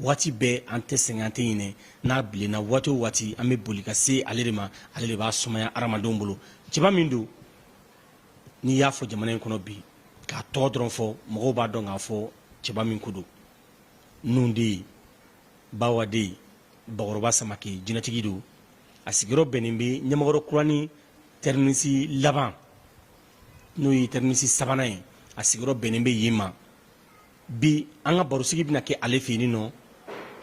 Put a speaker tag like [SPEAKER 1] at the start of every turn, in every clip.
[SPEAKER 1] waati bɛɛ an tɛ sɛgɛn an tɛ ɲinɛ n'a bilenna waati o waati an bɛ boli ka se ale de ma ale de b'a sumaya hadamadenw bolo cɛba min don n'i y'a fɔ jamana in kɔnɔ bi k'a tɔgɔ dɔrɔn fɔ mɔgɔw b'a dɔn k'a fɔ cɛba min ko don nun de ye bawa de ye bakɔrɔba samake jinɛtigi don a sigiyɔrɔ bɛnnen bɛ ɲamakɔrɔ kuranin tɛriminisi laban n'o ye tɛriminisi sabanan ye a sigiyɔrɔ bɛnnen bɛ yen ma bi an ka barosigi bɛna kɛ ale fɛ yen nɔ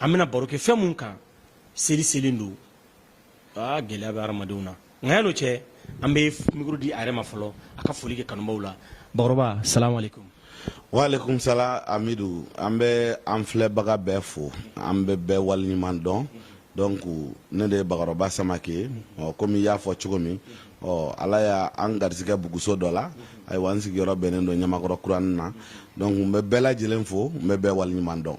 [SPEAKER 1] an bɛna baro kɛ fɛn mun kan seli selen don aa gɛlɛya bɛ hadamadenw na nka yan'o cɛ an bɛ mikoro di a yɛrɛ ma fɔlɔ a ka foli kɛ kanubaaw la bakɔrɔba salamu aleykum waaleykum salam amidu an bɛ an filɛbaga bɛɛ fo an bɛ bɛɛ waleɲuman dɔn donc ne de ye bakɔrɔba samake ye ɔ komi i y'a fɔ cogo min ɔ ala ye an garisigɛ buguso dɔ la ayiwa n sigiyɔrɔ bɛnnen don ɲamakɔrɔ kuranin na donc n bɛ bɛɛ lajɛlen fo n bɛ bɛɛ waleɲuman dɔn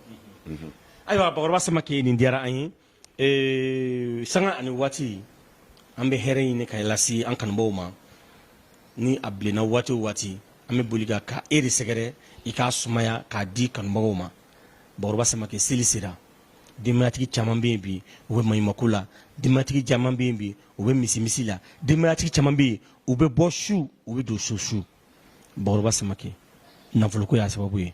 [SPEAKER 1] ayiwa bakɔrɔba samake nin diyara an ye ee, sanga ani waati an bɛ hɛrɛ ɲini k'a lase an kanubaw ma ni a bilenna waati o waati an bɛ boli ka ka e de sɛgɛrɛ i k'a sumaya k'a di kanubagaw ma bakɔrɔba samake seli sera denbayatigi caman bɛ yen bi u bɛ maɲumako la denbayatigi caman bɛ yen bi u bɛ misimisi la denbayatigi caman bɛ yen u bɛ bɔ su u bɛ don so su bakɔrɔba samake nafoloko y'a sababu ye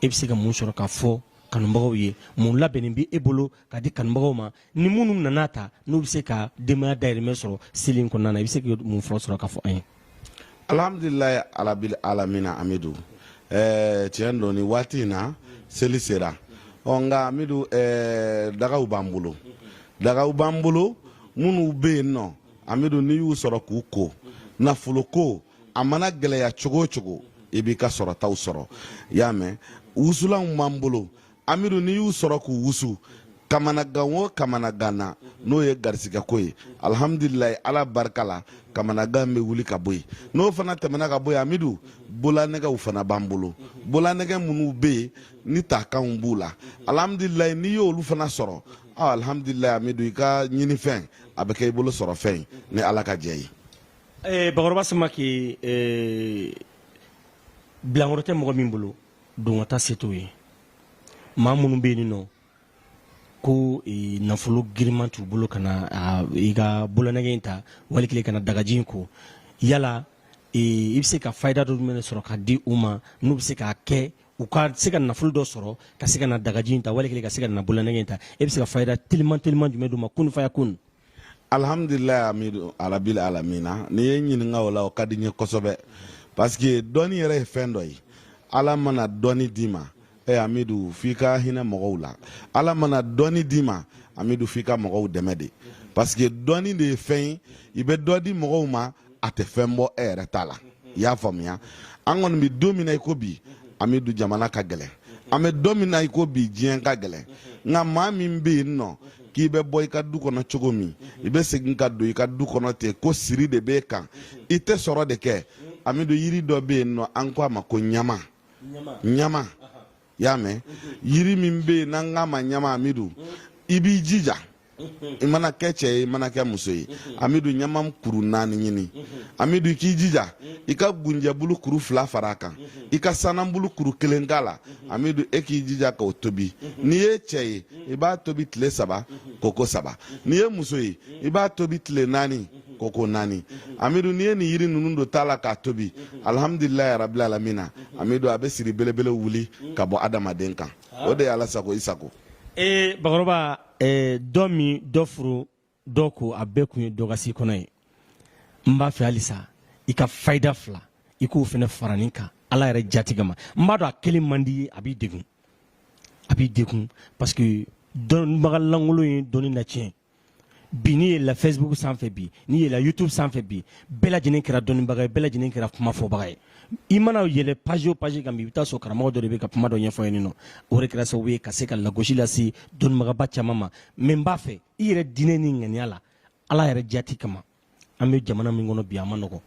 [SPEAKER 1] e bɛ se ka mun sɔrɔ ka fɔ kanubagaw ye mun labɛnnen bɛ e bolo ka di kanubagaw ma ni minnu nan'a ta n'u bɛ se ka denbaya dayirimɛ sɔrɔ seli in kɔnɔna na i bɛ se ka mun fɔ sɔrɔ ka fɔ an ye alhamdulilayi arabil alamina amidu ɛɛ eh, tiɲɛ don nin waati in na seli sera ɔ oh, nka amidu ɛɛ eh, dagaw b'an bolo dagaw b'an bolo minnu bɛ yen nɔ amidu n'i y'u sɔrɔ k'u ko nafolo ko a mana gɛlɛya cogo o cogo i b'i ka sɔrɔtaw sɔrɔ i y'a mɛn wusulanw b'an bolo amidu n'i y'u sɔrɔ k'u wusu kamanagan o kamanagan na n'o ye garisigɛko ye alihamudulilayi ala barika la kamanagan bɛ wuli ka bɔ yen n'o fana tɛmɛna ka bɔ yen amidu bolanɛgɛw fana b'an bolo bolanɛgɛ minnu bɛ yen ni takanw b'u la alihamudulilayi n'i y'olu fana sɔrɔ aa alihamudulilayi amidu i ka ɲinifɛn a bɛ kɛ i bolo sɔrɔfɛn ye ni ala ka jɛ ye. Eh, bakɔrɔba samake eh, bilankɔrɔ tɛ mɔgɔ min bolo don k'a ta se t'o ye maa minnu bɛ yen nɔ ko e, nafolo giriman t'u bolo ka na i ka bolonɛgɛ in ta wali kelen ka na dagaji in ko yala e, i bɛ se ka fayida dɔ jumɛn sɔrɔ ka di u ma n'u bɛ se k'a kɛ u ka se ka nafolo dɔ sɔrɔ ka se ka na dagaji in ta wali kelen ka se ka na bolonɛgɛ in ta e bɛ se ka fayida teliman teliman jumɛn d'u ma kun fayakun alhamdulila amidu arabil alamina n'i ye ɲininka o la o ka di n ye kosɛbɛ pasike dɔnni yɛrɛ ye fɛn dɔ ye ala mana dɔnni d'i ma e amidu f'i ka hinɛ mɔgɔw la ala mana dɔnni d'i ma amidu f'i ka mɔgɔw dɛmɛ de pasike dɔnni de ye fɛn ye i bɛ dɔ di mɔgɔw ma a tɛ fɛn bɔ e yɛrɛ ta la i y'a faamuya an kɔni bɛ don min na i ko bi amidu jamana ka gɛlɛn an bɛ don min na i ko bi diɲɛ ka gɛlɛn nka maa min bɛ yen nɔ k'i bɛ bɔ i ka du kɔnɔ cogo min i bɛ segin ka don i ka du kɔnɔ ten ko siri de b'e kan i tɛ sɔrɔ de kɛ amidu yiri dɔ bɛ yen nɔ an ko a ma ko ɲama ɲama i y'a mɛn yiri min bɛ yen n'an k'a ma ɲama amidu i b'i jija i mana kɛ cɛ ye i mana kɛ muso ye amidu ɲama kuru naani ɲini amidu i k'i jija i ka gunjɛbulu kuru fila fara a kan i ka sananbulu kuru kelen k'a la amidu e k'i jija k'o tobi n'i ye cɛ ye i b'a tobi tile saba ko ko saba n'i ye muso ye i b'a tobi tile naani ko ko naani amidu n'i ye nin yiri ninnu don daga la k'a tobi alhamdulilayi rabil alamina amidu a bɛ siri belebele wuli ka bɔ adamaden kan o de ye ala sago i sago ee bakɔrɔba ee, dɔ min dɔ furu dɔ ko a bɛɛ kun ye dɔ ka se kɔnɔ ye n b'a fɛ halisa i ka fayida fila i k'o fana fara nin kan ala yɛrɛ jati kama n b'a dɔn a kelen man d'i ye a b'i degun a b'i degun parce que dɔnbaga lankolon ye dɔnni na tiɲɛ bi n'i yɛlɛla facebook sanfɛ bi n'i yɛlɛla youtube sanfɛ bi bɛɛ lajɛlen kɛra dɔnnibaga ye bɛɛ lajɛlen kɛra kuma fɔbaga ye i mana yɛlɛ page o page kan bi i bɛ t'a sɔrɔ karamɔgɔ dɔ de bɛ ka kuma dɔ ɲɛfɔ yen nɔ o de kɛra sababu ye ka se ka lagosi lase dɔnnibagaba caman ma mɛ n b'a fɛ i yɛrɛ diinɛ ni ŋaniya la ala yɛrɛ jati kama an bɛ jamana min kɔnɔ bi a ma nɔgɔ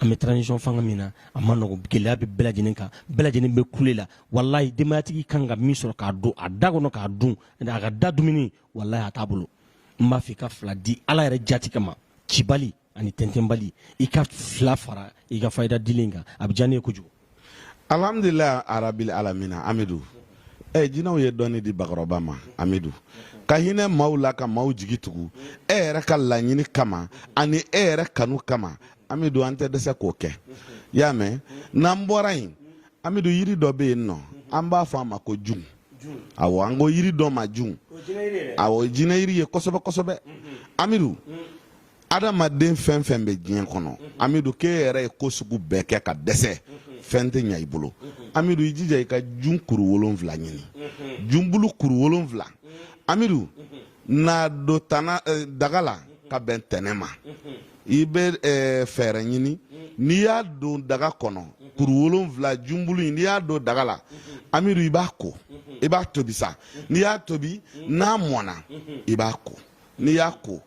[SPEAKER 1] an bɛ transition fanga min na a ma nɔgɔ gɛlɛya bɛ bɛɛ lajɛlen kan bɛɛ lajɛlen bɛ kule la walayi denbayatigi kan ka min sɔrɔ k'a don a da kɔnɔ k'a dun a ka da dumuni walayi a t'a bolo n b'a fɛ i ka fila di ala yɛrɛ jati kama cibali ani tɛntɛnbali i ka fila fara i ka fayida dilen kan a bɛ diya ne ye kojugu alhamdulila arabil alamina amidu ɛ jinɛw ye dɔnni di bakɔrɔba ma amidu ka hinɛ maaw la ka maaw jigi tugu e yɛrɛ ka laɲini kama ani e yɛrɛ kanu kama amidu an tɛ dɛsɛ k'o kɛ y'a mɛn n'an bɔra yen amidu yiri dɔ bɛ yen nɔ an b'a fɔ a ma ko jun awɔ an ko yiri dɔ ma jun awɔ jinɛ yiri ye kosɛbɛ kosɛbɛ amidu adamaden fɛn fɛn bɛ diɲɛ kɔnɔ amidu k'e yɛrɛ ye ko sugu bɛɛ kɛ ka dɛsɛ fɛn tɛ ɲa i bolo amidu i jija i ka jun kuru wolonfila ɲini junbulu kuru wolonfila amidu n'a don tana eh, daga la ka bɛn tɛnɛ ma i bɛ eh, fɛɛrɛ ɲini n'i y'a don daga kɔnɔ kuru wolonfila junbulu in n'i y'a don daga la amidu i b'a ko i b'a tobi sa n'i y'a tobi n'a mɔna i b'a ko n'i y'a ko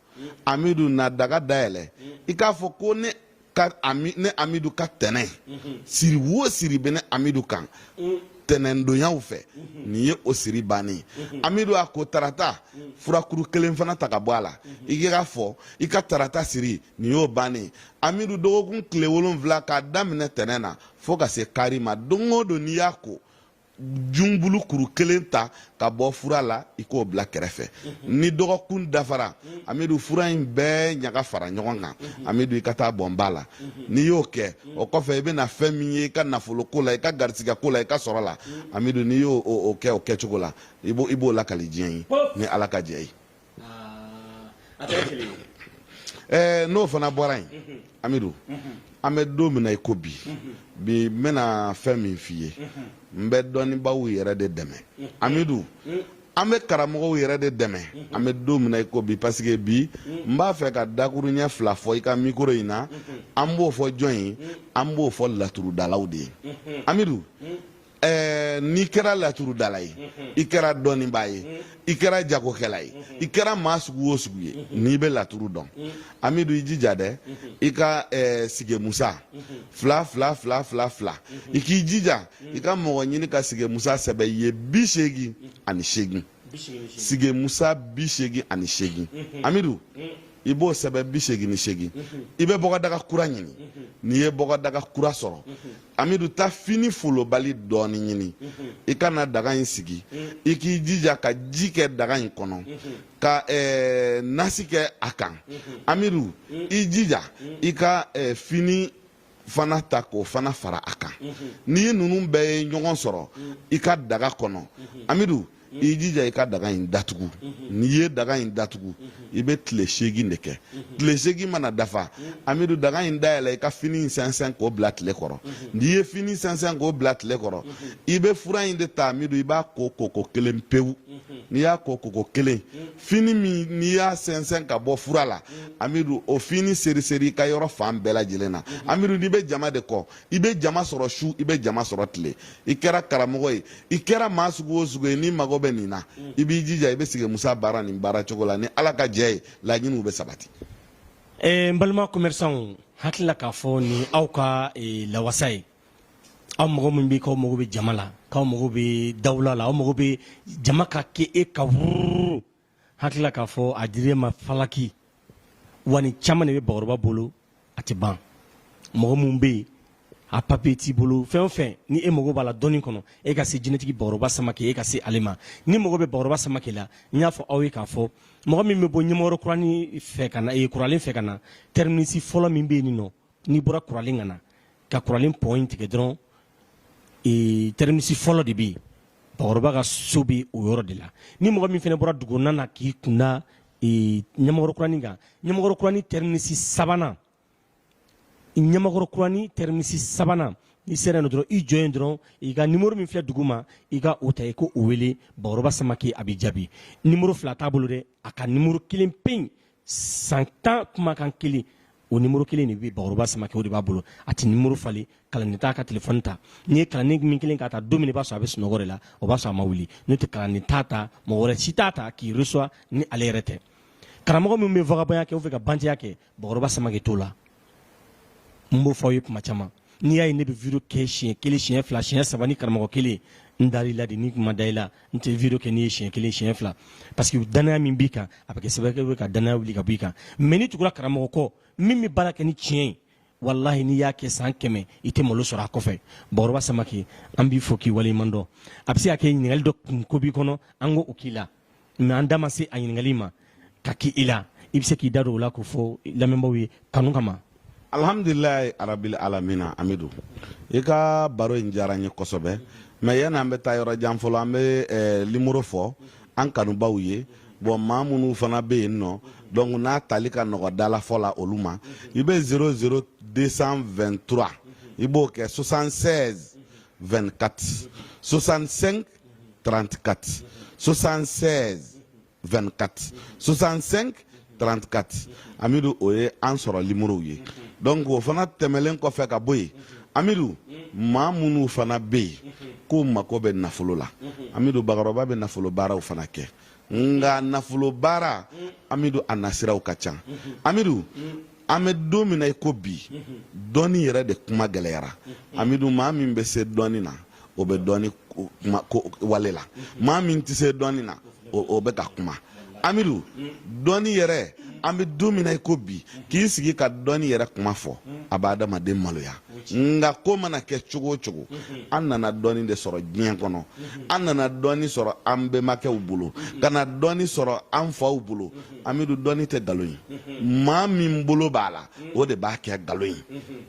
[SPEAKER 1] amidu na daga dayɛlɛ i k'a fɔ ko ne ka ami ne amidu ka tɛnɛ siri wo siri bɛ ne amidu kan tɛnɛndonyaw fɛ nin ye o siri bannen ye amidu a ko tarata furakuru kelen fana ta ka bɔ a la i k'a fɔ i ka tarata siri nin y'o bannen ye amidu dɔgɔkun tile wolonfila k'a daminɛ tɛnɛ na fo ka se kari ma don o don n'i y'a ko junbulu kuru kelen ta ka bɔ fura la i k'o bila kɛrɛfɛ mhm. ni dɔgɔkun dafara mhm. amidu fura in bɛɛ ɲaga fara ɲɔgɔn kan mhm. amidu i ka taa bɔn ba la n'i y'o kɛ o kɔfɛ i bɛna fɛn min ye i ka nafoloko la i ka garisigɛko la i ka sɔrɔ la amidu n'i y'o kɛ o kɛcogo la i b'o lakali diɲɛ ye ni ala ka jɛ ye n'o fana bɔra yen amidu an bɛ don min na i ko bi bi n bɛna fɛn min f'i ye n bɛ dɔnnibaaw yɛrɛ de dɛmɛ amidu an bɛ karamɔgɔw yɛrɛ de dɛmɛ an bɛ don min na i ko bi parce que bi n b'a fɛ ka dakuruɲɛ fila fɔ i ka mikoro in na an b'o fɔ jɔn ye an b'o fɔ laturudalaw de ye amidu Eh, n'i kɛra laturudala ye mhm. i kɛra dɔnnibaa ye mhm. i kɛra jagokɛla ye mhm. i kɛra maa sugu o sugu ye n'i bɛ laturu dɔn amidu i jija dɛ i ka eh, sigemusa fila fila fila fila fila i k'i jija i ka mɔgɔ ɲini ka sigemusa sɛbɛn i ye bi seegin ani seegin sigemusa bi seegin ani seegin amidu i b'o sɛbɛn bi seegin ni seegin i bɛ bɔgɔdaga kura ɲini n'i ye bɔgɔdaga kura sɔrɔ amidu taa fini folobali dɔɔni ɲini i ka na daga in sigi i k'i jija ka ji kɛ daga in kɔnɔ ka eh, nasi kɛ a kan amidu i jija i ka eh, fini fana ta k'o fana fara a kan n'i ye ninnu bɛɛ ye ɲɔgɔn sɔrɔ i ka daga kɔnɔ amidu i jija i ka daga in datugu n'i ye daga in datugu i bɛ tile seegin de kɛ tile seegin mana dafa amidu daga in dayɛlɛ i ka fini in sɛnsɛn k'o bila tile kɔrɔ n'i ye fini sɛnsɛn k'o bila tile kɔrɔ i bɛ fura in de ta amidu i b'a ko koko kelen pewu n'i y'a ko koko kelen fini min n'i y'a sɛnsɛn ka bɔ fura la amidu o fini seriseri i ka yɔrɔ fan bɛɛ lajɛlen na amidu n'i bɛ jama de kɔ i bɛ jama sɔrɔ su i bɛ jama sɔrɔ tile i kɛra karamɔgɔ ye i kɛra maa sugu o sugu ye n'i mago bɛ nin na mm. i b'i jija i bɛ sigemusa baara nin baara cogo la ni ala ka jɛ ye laɲiniw bɛ sabati eh, n balima commerçanw hakili la k'a fɔ nin aw ka eh, lawasa ye aw mago min bɛ k'aw mago bɛ jama la k'aw mago bɛ dawula la aw mago bɛ jama ka kɛ e ka wururu hakilila k'a fɔ a dir'e ma falaki wa nin caman de bɛ bakɔrɔba bolo a tɛ ban mɔgɔ minnu bɛ yen a papiye t'i bolo fɛn o fɛn ni e mago b'a la dɔnni kɔnɔ e ka se jinɛtigi bakɔrɔba samakɛ e ka se ale ma n'i mago bɛ bakɔrɔba samakɛ la n y'a fɔ aw ye k'a fɔ mɔgɔ min bɛ bɔ ɲamakɔrɔ kurani fɛ ka na e kuralen fɛ ka na tɛriminisi fɔlɔ min bɛ yen nin nɔ n'i bɔra kuralen ka na ka kuralen pɔn in tigɛ dɔrɔn ee, tɛriminisi fɔlɔ de bɛ yen bakɔrɔba ka so bɛ o yɔrɔ de la ni mɔgɔ min fana bɔra dugukɔnɔna na k'i kun da ee, ɲamakɔrɔ kurani kan ɲamakɔrɔ kurani tɛriminisi sabanan ɲamakɔrɔ kurani tɛriminisi sabanan n'i sera yen dɔrɔn i jɔ yen dɔrɔn i ka nimoro min filɛ duguma i ka o ta i k'o wele bakɔrɔba samakɛ a bɛ jaabi nimoro fila t'a bolo dɛ a ka nimoro kelen pe san tan kumakan kelen o nimoro kelen de bɛ bakɔrɔba samakɛ o de b'a bolo a tɛ nimoro falen kalanden t'a ka telefɔni ta n'i ye kalanden min kelen k'a ta don min i b'a sɔrɔ a bɛ sunɔgɔ de la o b'a sɔrɔ a ma wuli n'o tɛ kalanden t'a ta mɔgɔ wɛrɛ si t'a ta k'i resuwa ni ale yɛrɛ tɛ karamɔgɔ min bɛ vagabɔnya kɛ o fɛ ka bantɛya kɛ bakɔrɔba samakɛ t'o la n b'o fɔ aw ye tuma caman n'i y'a ye ne bɛ video kɛ siɲɛ kelen siɲɛ fila siɲɛ saba ni karamɔgɔ kelen n dar'i la de ni n ma da i la n tɛ video kɛ n'i ye siɲɛ kelen siɲɛ fila parce que danaya min b'i kan a bɛ kɛ sababu ye ka danaya wuli ka b'i kan mɛ n'i tugura karamɔgɔ kɔ min bɛ baara kɛ ni tiɲɛ ye walahi n'i y'a kɛ san kɛmɛ i tɛ malo sɔrɔ a kɔfɛ bakɔrɔba samakɛ an b'i fo k'i waleɲuman dɔn a bɛ se ka kɛ ɲininkali dɔ kun ko b'i kɔnɔ an k'o k'i la mɛ an da ma se a ɲininkali ma k'a k'i la i bɛ se k'i da don o la k'o fɔ lamɛnbaaw ye kanu kama alhamdulilayi arabil alamina amidu i ka baro in diyara n ye kosɛbɛ mɛ yanni an bɛ taa yɔrɔ jan fɔlɔ an bɛ eh, limoro fɔ an kanubaw ye bɔn maa minnu fana bɛ yen nɔ donc n'a tali ka nɔgɔ dalafɔ la olu ma i bɛ 00 223 i b'o kɛ 76 24 65 34 76 24 65 34 amidu o ye an sɔrɔ limorow ye donc o fana tɛmɛlen kɔfɛ ka bɔ yen amidu maa minnu fana bɛ yen k'u mako bɛ nafolo la amidu bakɔrɔba bɛ nafolo baaraw fana kɛ nka nafolo baara amidu a nasiraw ka ca amidu an bɛ don min na i ko bi dɔnni yɛrɛ de kuma gɛlɛyara amidu maa min bɛ se dɔnni na o bɛ dɔnni ko wale la maa min tɛ se dɔnni na o bɛ ka kuma amidu dɔnni yɛrɛ an bɛ don min na i ko bi k'i sigi ka dɔnni yɛrɛ kuma fɔ a bɛ adamaden maloya nka ko mana kɛ cogo o cogo an nana dɔnni de sɔrɔ diɲɛ kɔnɔ an nana dɔnni sɔrɔ an bɛnbakɛw bolo ka na dɔnni sɔrɔ an faw bolo amidu dɔnni tɛ nkalon ye maa min bolo b'a la o de b'a kɛ nkalon ye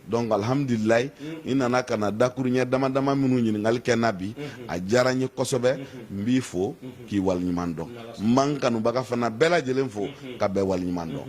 [SPEAKER 1] donc alhamdulilayi i nana ka na dakuruɲɛ dama dama minnu ɲininkali kɛ n na bi a diyara n ye kosɛbɛ n b'i fo k'i waleɲuman dɔn n b'an kanubaga fana bɛɛ lajɛlen fo ka bɛɛ waleɲuman dɔn.